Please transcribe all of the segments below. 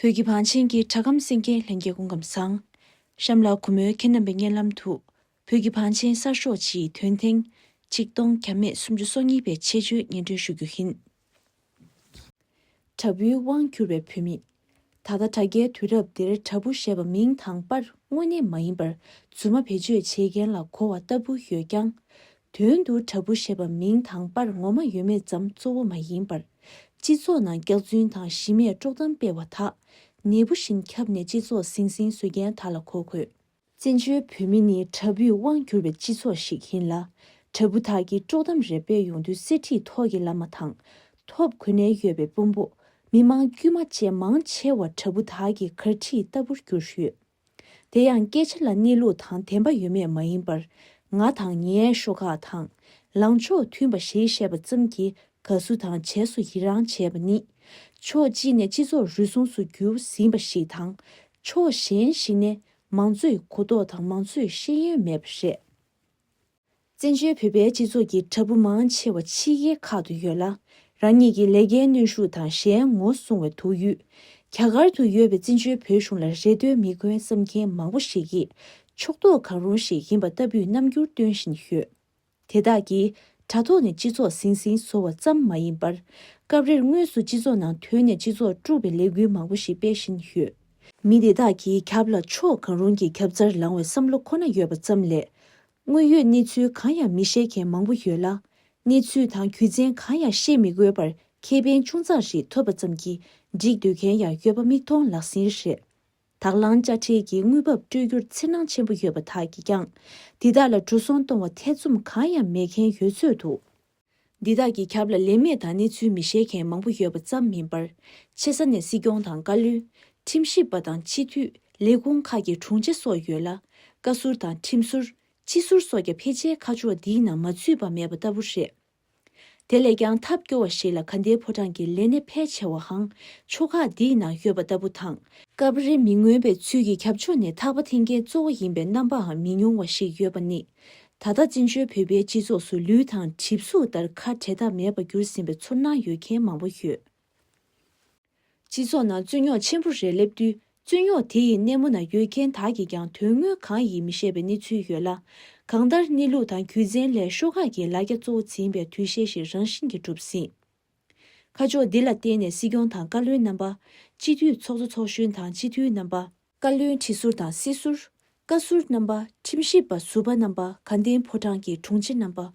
བོད་ཀྱི་བང་ཆེན་གྱི་གྲགས་སྐམ་སེང་རྒྱན་ལྷན་རྒྱས་ཀུན་ཁམས་བཟང། གཤམ་ལ་གུ་མོའི་ཁྱེད་རྣམ་པའི་སྙན་ལམ་དུ། བོད་ཀྱི་བང་ཆེན་གསར་ཤོག་སྤྱིའི་དོན་ཐེངས། གཅིག་སྟོང་གྱ་མེད་སུམ་ཅུ་སོ་གཉིས་པའི་ཆེད་བརྗོད་སྙན་སྒྲོན་ཞུ་རྒྱུ་ཡིན། དྲ་འབུའི་དབང་གྱུར་བའི་བུད་མེད། ད་ལྟ་དྲ་རྒྱའི་དུས་རབས་འདིར་དྲ་འབུ་ཞེས་པ་མིང་དང་པར་དངོས་གནས་མ་ཡིན་པར་རྫུན་མ་བེད་སྤྱོད་བྱེད་མཁན་ལ་གོ་བ་ལྟ་བུ་ཡོད་ཀྱང། དོན་དུ་དྲ་འབུ་ཞེས་པ་མིང་དང་པར་ངོ་མ་ཡོད་མེད་ཙམ་གཙོ་བོ་མ་ཡིན་པར། སྤྱི་ཚོགས་ནང་སྐྱག་རྫུན་དང་གཞི་མེད་དཀྲོག་གཏམ་སྤེལ་བ་དག། ནད་འབུ་བཞིན་ཁྱབ་ནས་སྤྱི་ཚོགས་ཟིང་ཟིང་བཟོ་མཁན་དག་ལ་གོ་དགོས། བཙན་བྱོལ་བོད་མི་ནི་དྲ་འབུས་དབང་བསྒྱུར་བའི་སྤྱི་ཚོགས་ཤིག་ཡིན་ལ། དྲ་འབུ་དག་གིས་དཀྲོག་གཏམ་རེ་སྤེལ་ཡོང་དུས་གསེར་ཁྲི་ཐོག་གི་བླ་མ་དང། ཐོབ་གོ་ནས་ཡོད་པའི་དཔོན་པོ། མི་མང་དཀྱུས་མ་བཅས་མང་ཆེ་བ་དྲ་འབུ་དག་གི་གར་ཁྲིད་ལྟ་བུར་གྱུར་ཡོད། དེ་ཡང་སྐད་ཆ་ལ་གནས་ལུགས་དང་བདེན་པ་ཡོད་མེད་མ་ཡིན་པར། ང་དང་ངའི་ཤོག་ཁག་དང། ལངས་ཕྱོགས་མཐུན་པ་ཞེས་བཤད་པ་ཙམ་གྱིས་དགའ་བསུ་དང་བྱས་སུ་ཡི་རང་བྱས་པ་ནི། ཕྱོགས་གཅིག་ནས་སྤྱི་ཚོགས་རུལ་སུངས་སུ་གྱུར་ཟིན་པ་ཞིག་དང། ཕྱོགས་གཞན་ཞིག་ནས་མང་གཙོའི་གུ་དོག་དང་མང་གཙོའི་ཤེས་ཡོན་མེད་པ་རེད། བཙན་བྱོལ་བོད་པའི་སྤྱི་ཚོགས་ཀྱི་དྲ་འབུ་མང་ཆེ་བ་ཕྱི་རྒྱལ་ཁག་ཏུ་ཡོད་ལ། རང་ཉིད་ཀྱི་ལས་ཀའི་གནོན་ཤུགས་དང་གཞན་ངོ་སྲུང་བའི་དུག་ཡུས། རྒྱ་གར་དུ་ཡོད་པའི་བཙན་བྱོལ་བོད་གཞུང་ལ་རེ་ལྟོས་མི་དགོས་བསམ་མཁན་མང་པོ་ཞིག་གིས་ཕྱོགས་གཏོགས་གང་རུང་ཞིག་ཡིན་པ་ལྟ་བུའི་རྣམ་འགྱུར་སྟོན་བཞིན་ཡོད། དེ་དག་གིས་དྲ་ཐོག་ནས་སྤྱི་ཚོགས་ཟིང་ཟིང་བཟོ་བ་ཙམ་མ་ཡིན་པར། སྐབས་རེར་དངོས་སུ་སྤྱི་ཚོགས་ནང་དོན་ནས་སྤྱི་ཚོགས་དཀྲུག་པའི་ལས་འགུལ་མང་པོ་ཞིག་སྤེལ་བཞིན་ཡོད། མི་དེ་དག་གིས་ཁྱབ་ལ་ཕྱོགས་གང་རུང་གི་ཁྱབ་རྩར་ལངས་བའི་བསམ་བློ་ཁོ་ན་ཡོད་པ་ཙམ་ལས། དངོས་ཡོད་གནས་ཚུལ་གང་ཡང་མི་ཤེས་མཁན་མང་པོ་ཡོད་ལ། གནས་ཚུལ་དང་རྒྱུ་མཚན་གང་ཡང་ཤེས་མི་དགོས་པར་ཁེ་ཕན་ཆུང་ཙག་ཞིག་ཐོབ་པ་ཙམ་གྱིས་འགྲིག་འདོད་མཁན་ཡང་ཡོད་པ་མིག་མཐོང་ལག་ཟིན་རེད། དག་ལང་དཔྱ་ཁྲལ་གྱི་དངུལ་འབབ་སྤྲོད་རྒྱུར་འཚེར་སྣང་ཆེན་པོ་ཡོད་པ་དག་གིས་ཀྱང། འདི་དག་ལ་འགྲོ་སོང་གཏོང་བར་ཐེ་ཚོམ་གང་ཡང་མེད་མཁན་ཡོད་ཚོད་འདུག། འདི་དག་གི་ཁབ་ལ་ལན་མེད་དང་གནས་ཚུལ་མི་བཤད་མཁན་མང་པོ་ཡོད་པ་ཙམ་མིན་པར། ཆེ་ས་ནས་སྲིད་སྐྱོང་དང་བཀའ་བློན། ཁྲིམས་ཞིབ་པ་དང་སྤྱི་འཐུས། ལས་ཁུངས་ཁག་གི་དྲུང་ཆེ་སོགས་ཡོད་ལ། བཀའ་ཟུར་དང་ཁྲིམས་ཟུར། སྤྱི་ཟུར་སོགས་ཀྱང་ཕལ་ཆེར་ཁ་ཕྱོགས་འདིའི་ནང་མ་ཚུད་པ་མེད་པ་ལྟ་བུ་རེད། དེ་ལས་ཀྱང་ཐབས་སྐྱོ་བ་ཞིག་ལ་ག་འདའི་ཕོ་བྲང་གི་ལས་སྣེ་ཕལ་ཆེ་བའང་ཕྱོགས་ཁག་འདིའི་ནང་ཡོད་པ་ལྟ་བུ་དང། སྐབས་རེ་མི་མངོན་པའི་ཚུལ་གྱིས་ཁྱབ་ཕྱོགས་ནས་ཐག་པ་འཐེན་མཁན་གཙོ་བོ་ཡིན་པའི་རྣམ་པའང་མི་ཉུང་བ་ཞིག་ཡོད་པ་ནི། ད་ལྟ་བཙན་བྱོལ་བོད་པའི་སྤྱི་ཚོགས་སུ་ལུས་དང་གྲིབ་གཟུགས་ལྟར་ཁ་བྲལ་ཐབས་མེད་པར་གྱུར་ཟིན་པའི་ཚུར་སྣང་ཡོད་མཁན་མང་པོ་ཡོད། སྤྱི་ཚོགས་ནང་རྩོད་རྙོག་ཆེན་པོ་རེ་སླེབས་དུས་རྩོད་རྙོག་དེ་ཡི་སྣེ་མོ་ན་ཡོད་མཁན་དག་གིས་ཀྱང་དོན་དངོས་གང་ཡིན་མི་ཤེས་པའི་གནས་ཚུལ་ཡོད་ལ། གང་ལྟར་གནས་ལུགས་དང་རྒྱུ་མཚན་ལས་ཤོག་ཁག་གི་ལ་རྒྱ་གཙོ་བོ་འཛིན་པའི་འདུ་ཤེས་ཤིག་རང་བཞིན་གྱིས་གྲུབ་ཟིན། ཁ་ཕྱོགས་འདི་ལ་བརྟེན་ནས་སྲིད་སྐྱོང་དང་བཀའ་བློན་རྣམ་པ། སྤྱི་འཐུས་ཚོགས་གཙོ་ཚོགས་གཞོན་དང་སྤྱི་འཐུས་རྣམ་པ། བཀའ་བློན་ཁྲི་ཟུར་དང་སྲིད་ཟུར། བཀའ་ཟུར་རྣམ་པ། ཁྲིམས་ཞིབ་པ་ཟུར་པ་རྣམ་པ་དགའ་ལྡན་ཕོ་བྲང་གི་དྲུང་ཆེ་རྣམ་པ། བོད་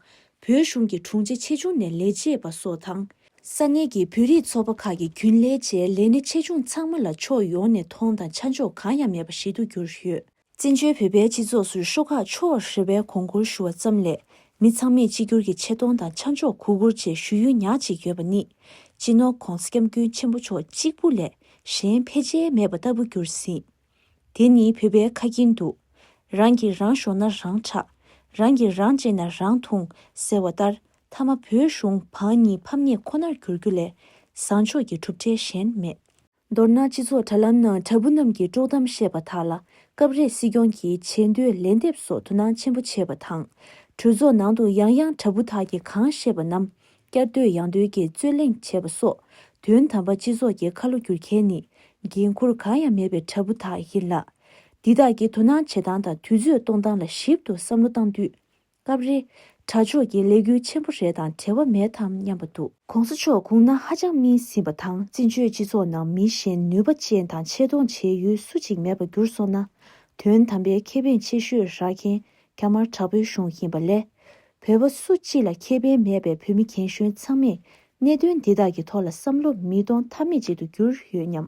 གཞུང་གི་དྲུང་ཆེ་ཆེ་ཆུང་ནས་ལས་བྱེད་པ་སོགས་དང། ས་གནས་ཀྱི་བོད་རིགས་ཚོགས་པ་ཁག་གི་རྒྱུན་ལས་བཅས་ལས་སྣེ་ཆེ་ཆུང་ཚང་མ་ལ་ཕྱོགས་ཡོངས་ནས་མཐོང་དང་ཆ་འཇོག་གང་ཡང་མེད་པ་ཞིག་ཏུ་གྱུར་ཡོད། བཙན་བྱོལ་བོད་པའི་སྤྱི་ཚོགས་སུ་ཤོག་ཁག་ཕྱོགས་རེ་བས་གོང་བཀུར་ཞུ་བ་ཙམ་ལས་མི་ཚང་མས་གཅིག་གྱུར་གྱི་ཆེ་མཐོང་དང་ཆ་འཇོག་གུས་བཀུར་བཅས་ཞུ་ཡུལ་ཉག་ཅིག་ཡོད་པ་ནི་སྤྱི་ནོར ྋགོང ྋསྐྱབས་མགོན་ཆེན་པོ་མཆོག་གཅིག་པུ་ལས་གཞན་ཕལ་ཆེར་མེད་པ་ལྟ་བུ་གྱུར་ཟིན། དེ་ནི་བོད་པའི་ཁ་ཁྱིན་འདུག། རང་གིས་རང་ཞོག་ན་རང་ཁྲག། རང་གིས་རང་གཅེས་ན་རང་འཐུང་ཟེར་བ་ལྟར་མཐའ་མ་བོད་གཞུང་བང་གཉིས་ཕམ་ཉེས་ཁོ་ནར་གྱུར་རྒྱུ་ལས་བཟང་ཕྱོགས་ཀྱི་གྲུབ་འབྲས་གཞན་མེད། མདོར་ན་སྤྱི་ཚོགས་དྲ་ལམ་ནང་དྲ་འབུ་རྣམས་ཀྱིས་དཀྲོག་གཏམ་བཤད་པ་དག་ལ་སྐབས་རེ་སྲིད་སྐྱོང་གིས་བྱེད་འདོད་ལན་འདེབས་སོགས་དོ་སྣང་ཆེན་པོ་བྱེད་པ་དང། གྲོས་ཚོགས་ནང་དུ་ཡང་ཡང་དྲ་འབུ་དག་གིས་གང་བཤད་པ་རྣམས་བསྐྱར་ཟློས་ཡང་ཟློས་ཀྱིས་རྩོད་གླེང་བྱེད་པ་སོགས་དོན་དམ་པར་སྤྱི་ཚོགས་ཀྱི་ཁ་ལོ་སྒྱུར་མཁན་ནི་འགན་ཁུར་གང་ཡང་མེད་པའི་དྲ་འབུ་དག་ཡིན་ལ། འདི་དག་གི་དོ་སྣང་བྱེད་སྟངས་དང་དུས་ཚོད་གཏོང་སྟངས་ལ་ཞིབ་ཏུ་བསམ་བློ་བཏང་དུས། སྐབས་རེ། དྲ་ཕྱོགས་ཀྱི་ལས་འགུལ་ཆེན་པོ་རེ་དང་བྲལ་བ་མེད་དམ་སྙམ་པ་འདུག། གོང་ས་མཆོག་གུང་ན་ཧ་ཅང་སྨིན་ཟིན་པ་དང་བཙན་བྱོལ་སྤྱི་ཚོགས་ནང་མི་གཞན་ནུས་པ་ཅན་དང་ཆེ་མཐོང་བྱེད་ཡུལ་སུ་གཅིག་མེད་པ་གྱུར་སོང་ན། དོན་དམ་པའི་ཁེ་ཕན་ཆེ་ཤོས་རག་མཁན་རྒྱ་དམར་དྲག་པོའི་གཞུང་ཡིན་པ་ལས། བོད་པ་སུ་གཅིག་ལ་ཁེ་ཕན་མེད་པའི་བོད་མི་རྒན་གཞོན་ཚང་མས་གནད་དོན་འདི་དག་གི་ཐོག་ལ་བསམ་བློ་མི་གཏོང་ཐབས་མེད་ཅིག་ཏུ་གྱུར་ཡོད་སྙམ།